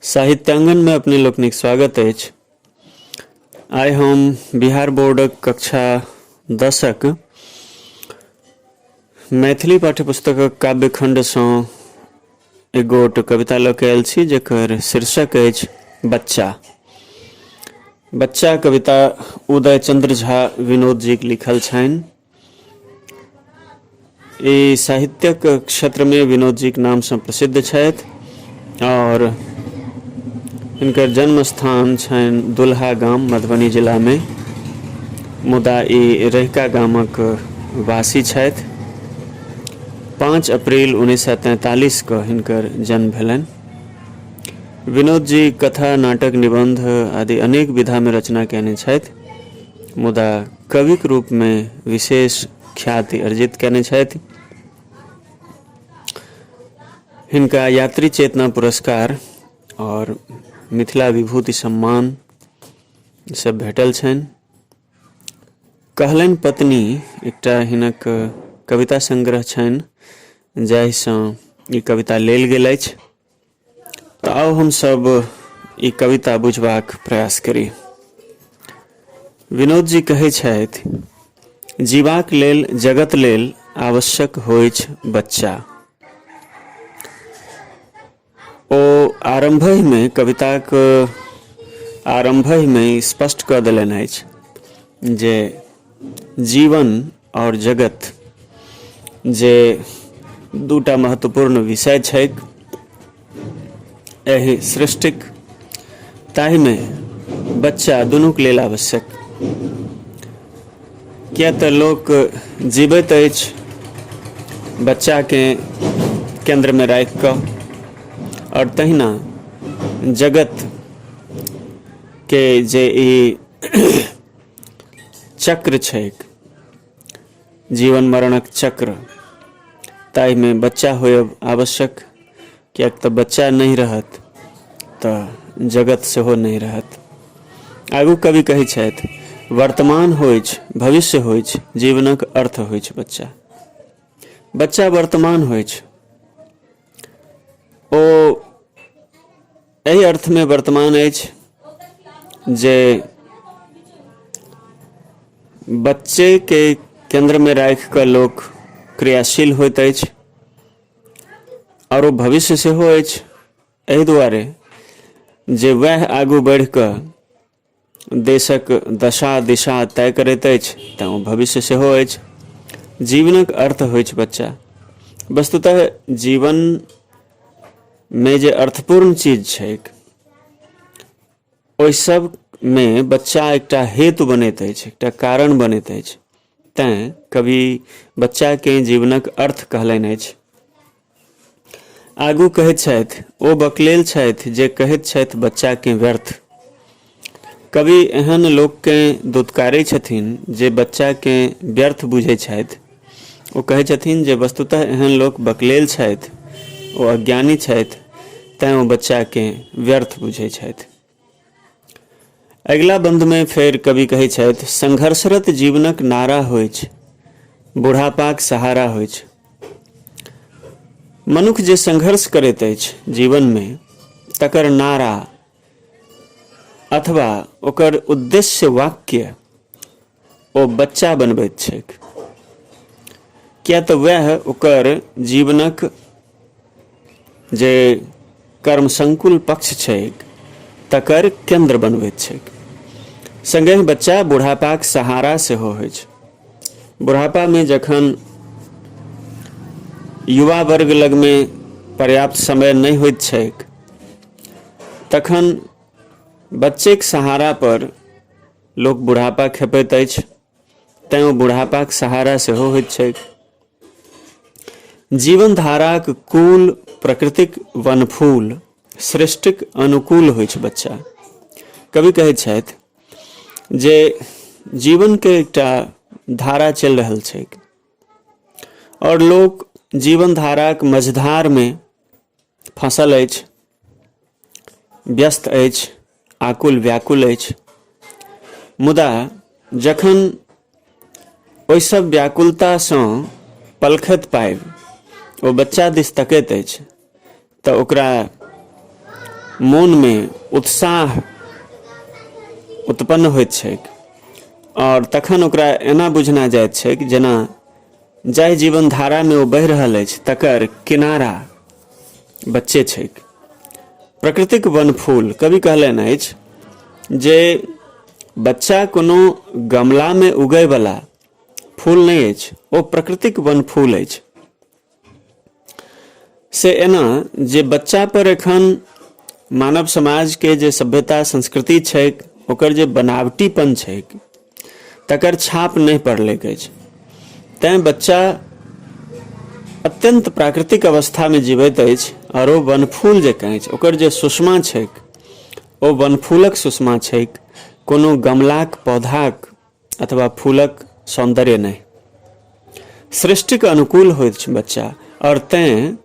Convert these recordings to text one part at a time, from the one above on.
साहित्यांगन में अपने लोकनिक स्वागत अछि आइ हम बिहार बोर्डक कक्षा दसक मैथिली पाठ्यपुस्तकक काव्यखण्डसँ एगो तो कविता लऽ के आयल छी जकर शीर्षक अछि बच्चा बच्चा कविता उदय चंद्र झा विनोद जी के लिखल छनि ई साहित्यक क्षेत्र में विनोद जी के नाम से प्रसिद्ध छथि और इनकर जन्म स्थान छनि दुल्हा गाम मधुबनी जिला में मुदा ई रहिका गामक वासी छथि पाँच अप्रैल उन्नैस सए तैंतालीस कऽ हिनकर जन्म भेलनि विनोद जी कथा नाटक निबंध आदि अनेक विधा में रचना कयने छथि मुदा कविक रूप में विशेष ख्याति अर्जित कयने छथि हिनका यात्री चेतना पुरस्कार और मिथिला विभूति सम्मान सब भेटल छनि कहलनि पत्नी एकटा हिनक कविता संग्रह छनि जाहिसँ ई कविता लेल गेल अछि तऽ आउ हमसभ ई कविता बुझबाक प्रयास करी विनोद जी कहै छथि जीवाक लेल जगत लेल आवश्यक होइछ बच्चा ओ आरम्भहिमे कविताक आरम्भहिमे स्पष्ट कऽ देलनि अछि जे जीवन आओर जगत जे दूटा महत्वपूर्ण विषय छैक एहि सृष्टिक ताहिमे बच्चा दुनूक लेल आवश्यक किए तऽ लोक जीबैत अछि बच्चाकेँ केन्द्रमे राखि कऽ आओर तहिना जगत के जे ई चक्र छैक जीवन मरणक चक्र ताहिमे बच्चा होयब आवश्यक किएक तऽ बच्चा नहि रहत तऽ जगत सेहो नहि रहत आगू कवि कहै छथि वर्तमान होइछ भविष्य होइछ जीवनक अर्थ होइछ बच्चा बच्चा वर्तमान होइछ ओ एहि अर्थमे वर्तमान अछि जे बच्चेके केन्द्रमे राखि कऽ लोक क्रियाशील होइत अछि आओर ओ भविष्य सेहो अछि एहि दुआरे जे वएह आगू बढ़ि कऽ देशक दशा दिशा तय करैत अछि तँ ओ भविष्य सेहो अछि जीवनक अर्थ होइ छै बच्चा वस्तुतः जीवन मे जे अर्थपूर्ण चीज छैक ओहि सब मे बच्चा एकटा हेतु बनैत अछि एकटा कारण बनैत अछि तैँ कवि बच्चाकेँ जीवनक अर्थ कहलनि अछि आगू कहैत छथि ओ बकलेल छथि जे कहैत छथि बच्चाकेँ व्यर्थ कवि एहन लोककेँ दुत्कारै छथिन जे बच्चाकेँ व्यर्थ बुझैत छथि ओ कहैत छथिन जे वस्तुतः एहन लोक बकलेल छथि ओ अज्ञानी छथि तैँ ओ बच्चाकेँ व्यर्थ बुझैत छथि अगिला बन्दमे फेर कवि कहै छथि संघर्षरत जीवनक नारा होइ छै बुढ़ापाक सहारा होइ छै मनुख जे संघर्ष करैत अछि जीवनमे तकर नारा अथवा ओकर उद्देश्य वाक्य ओ बच्चा बनबैत छैक किया तऽ वएह ओकर जीवनक जे कर्म संकुल पक्ष छैक तकर केंद्र बनबैत छैक संगे बच्चा बुढ़ापाक सहारा सेहो होइ छै बुढ़ापामे जखन युवा वर्ग लगमे पर्याप्त समय नहि होइत छैक तखन बच्चेक सहारा पर लोक बुढ़ापा खेपैत अछि तैँ ओ बुढ़ापाक सहारा सेहो होइत छैक जीवन धाराक कुल प्रकृतिक वनफूल सृष्टिक अनुकूल होइ छै बच्चा कवि कहैत छथि जे जीवनके एकटा धारा चलि रहल छैक आओर लोक जीवन धाराक मझधारमे फँसल अछि व्यस्त अछि आकुल व्याकुल अछि मुदा जखन ओहिसभ व्याकुलतासँ पलखैत पाबि ओ बच्चा दिस तकैत अछि तऽ ओकरा मोनमे उत्साह उत्पन्न होइत छैक आओर तखन ओकरा एना बुझना जाइत छैक जेना जाहि जीवन धारा में ओ बहि रहल अछि तकर किनारा बच्चे छैक प्रकृतिक वन फूल कवि कहलनि अछि जे बच्चा कोनो गमला में उगय वाला फूल नहि अछि ओ प्रकृतिक वन फूल अछि से एना जे बच्चा पर एखन मानव समाज के जे सभ्यता संस्कृति छै ओकर जे बनावटीपन छै तकर छाप नहीं पड़ल अछि तैं बच्चा अत्यंत प्राकृतिक अवस्था में जीवित अछि और वो वनफूल जकाँ अछि ओकर जे सुषमा छै ओ वनफूलक सुषमा छै कोनो गमलाक पौधाक अथवा फूलक सौन्दर्य नहि सृष्टिक अनुकूल होइत छै बच्चा आओर तैँ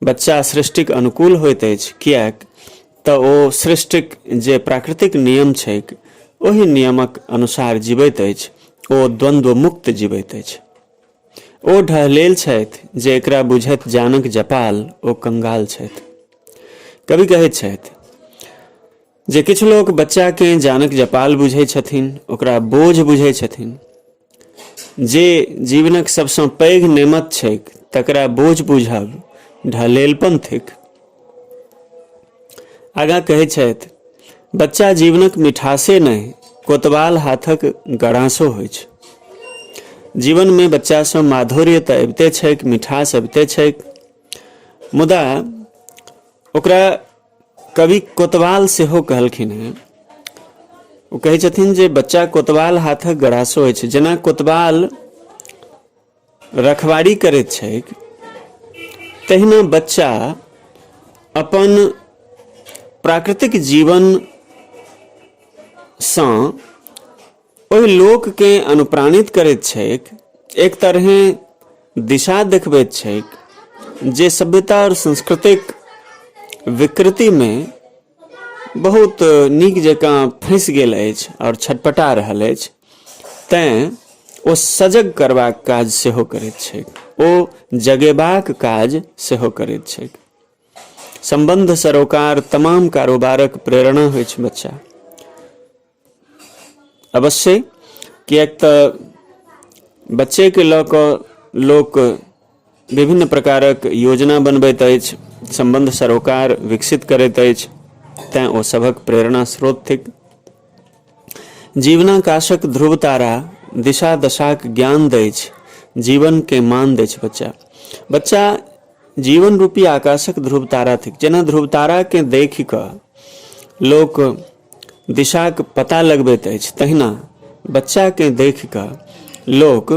बच्चा सृष्टिक अनुकूल होइत अछि किएक तऽ ओ सृष्टिक जे प्राकृतिक नियम छैक ओहि नियमक अनुसार जीवैत अछि ओ द्वन्द्व मुक्त जीवैत अछि ओ ढहलेल छथि जे एकरा बुझैत जानक जपाल ओ कंगाल छथि कवि कहैत छथि जे किछु लोक बच्चाकेँ जानक जपाल बुझै छथिन ओकरा बोझ बुझै छथिन जे जीवनक सभसँ पैघ नेमत छैक तकरा बोझ बुझब ढलेलपन थिक आगाँ कहै छथि बच्चा जीवनक मिठासे नहि कोतवाल हाथक गड़ासो होइ छै जीवनमे बच्चासँ माधुर्य तऽ अबिते छैक मिठास अबिते छैक मुदा ओकरा कवि कोतवाल सेहो कहलखिन हेँ ओ कहै छथिन जे बच्चा कोतवाल हाथक गड़ासो अछि जेना कोतवाल रखवारी करैत छैक तहिना बच्चा अपन प्राकृतिक जीवनसँ ओहि लोककेँ अनुप्राणित करैत छैक एक तरहेँ दिशा देखबैत छैक जे सभ्यता आओर संस्कृतिक विकृतिमे बहुत नीक जकाँ फँसि गेल अछि आओर छटपटा रहल अछि तैँ ओ सजग करबाक काज सेहो करैत छैक ओ जगेबाक काज सेहो करैत छैक सम्बन्ध सरोकार तमाम कारोबारक प्रेरणा होइत छै बच्चा अवश्य किएक तऽ बच्चेके लऽ कऽ लोक विभिन्न प्रकारक योजना बनबैत अछि सम्बन्ध सरोकार विकसित करैत अछि तैँ ओ सभक प्रेरणा स्रोत थिक जीवनाकाशक ध्रुव तारा दिशा दशाक ज्ञान दैछ जीवनके मान दैछ बच्चा बच्चा जीवन रूपी आकाशक ध्रुव तारा थिक जेना ध्रुव ताराकेँ देखि कऽ लोक दिशाक पता लगबैत अछि तहिना बच्चाकेँ देखि कऽ लोक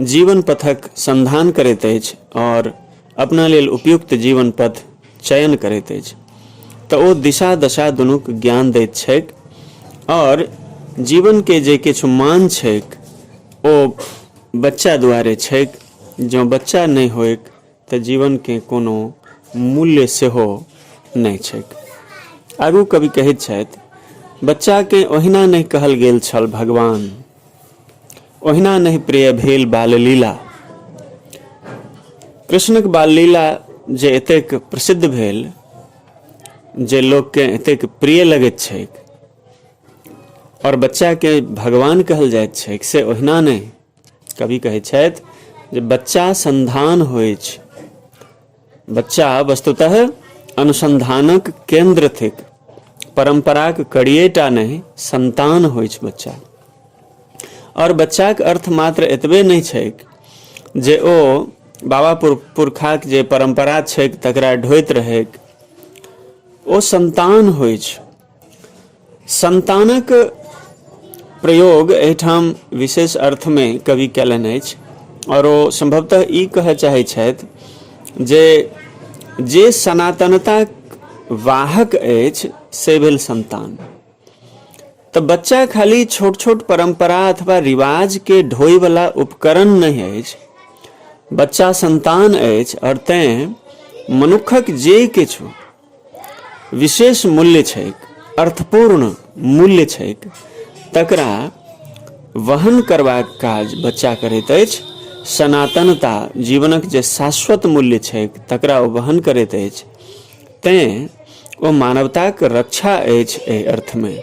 जीवन पथक संधान करैत अछि आओर अपना लेल उपयुक्त जीवन पथ चयन करैत अछि तऽ ओ दिशा दशा दुनूक ज्ञान दैत छैक आओर जीवनके जे किछु मान छैक ओ बच्चा दुआरे छैक जँ बच्चा नहि होइक तऽ जीवनके कोनो मूल्य सेहो नहि छैक आगू कवि कहैत छथि बच्चाकेँ ओहिना नहि कहल गेल छल भगवान ओहिना नहि प्रिय भेल बाललीला कृष्णक बाललीला जे एतेक प्रसिद्ध भेल जे लोककेँ एतेक प्रिय लगैत छैक आओर बच्चाकेँ भगवान कहल जाइत छैक से ओहिना नहि कवि कहै छथि जे बच्चा संधान होइ छै बच्चा वस्तुतः अनुसंधानक केंद्र थिक परम्पराक कड़िएटा नहि संतान होइ छै बच्चा आओर बच्चाक अर्थ मात्र एतबे नहि छैक जे ओ बाबा पुर पुरखाक जे परम्परा छैक तकरा ढोइत रहैक ओ संतान होइ छै संतानक प्रयोग एहिठाम विशेष अर्थमे कवि कयलनि अछि आओर ओ सम्भवतः ई कहय चाहैत छथि जे जे सनातनताक वाहक अछि से भेल संतान तऽ बच्चा खाली छोट छोट परम्परा अथवा रिवाजके ढोयवला उपकरण नहि अछि बच्चा संतान अछि आओर तैँ मनुक्खक जे किछु विशेष मूल्य छैक अर्थपूर्ण मूल्य छैक तकरा वहन करबाक काज बच्चा करैत अछि सनातनता जीवनक जे शाश्वत मूल्य छैक तकरा ओ वहन करैत अछि तैँ ओ मानवताक रक्षा अछि एहि अर्थमे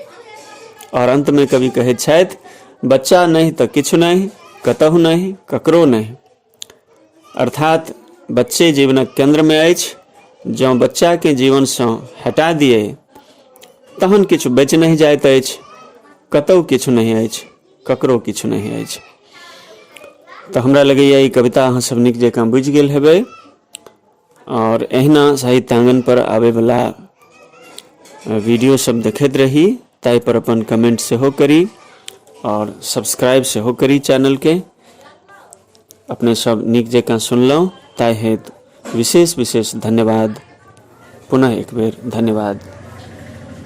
आओर अन्तमे कवि कहैत छथि बच्चा नहि तऽ किछु नहि कतहु नहि ककरो नहि अर्थात बच्चे जीवनक केन्द्रमे अछि जँ बच्चाके जीवनसँ हटा दियै तहन किछु बचि नहि जाइत अछि कतहु किछु नहि अछि ककरो किछु नहि अछि तऽ हमरा लगैए ई कविता अहाँसभ नीक जकाँ बुझि गेल हेबै आओर एहिना साहित्यांगनपर आबैवला वीडियोसभ देखैत रही ताहिपर अपन कमेंट सेहो करी आओर सब्सक्राइब सेहो करी चैनलके अपने सब नीक जकाँ सुनलहुँ ताहि हेतु विशेष विशेष धन्यवाद पुनः एक बेर धन्यवाद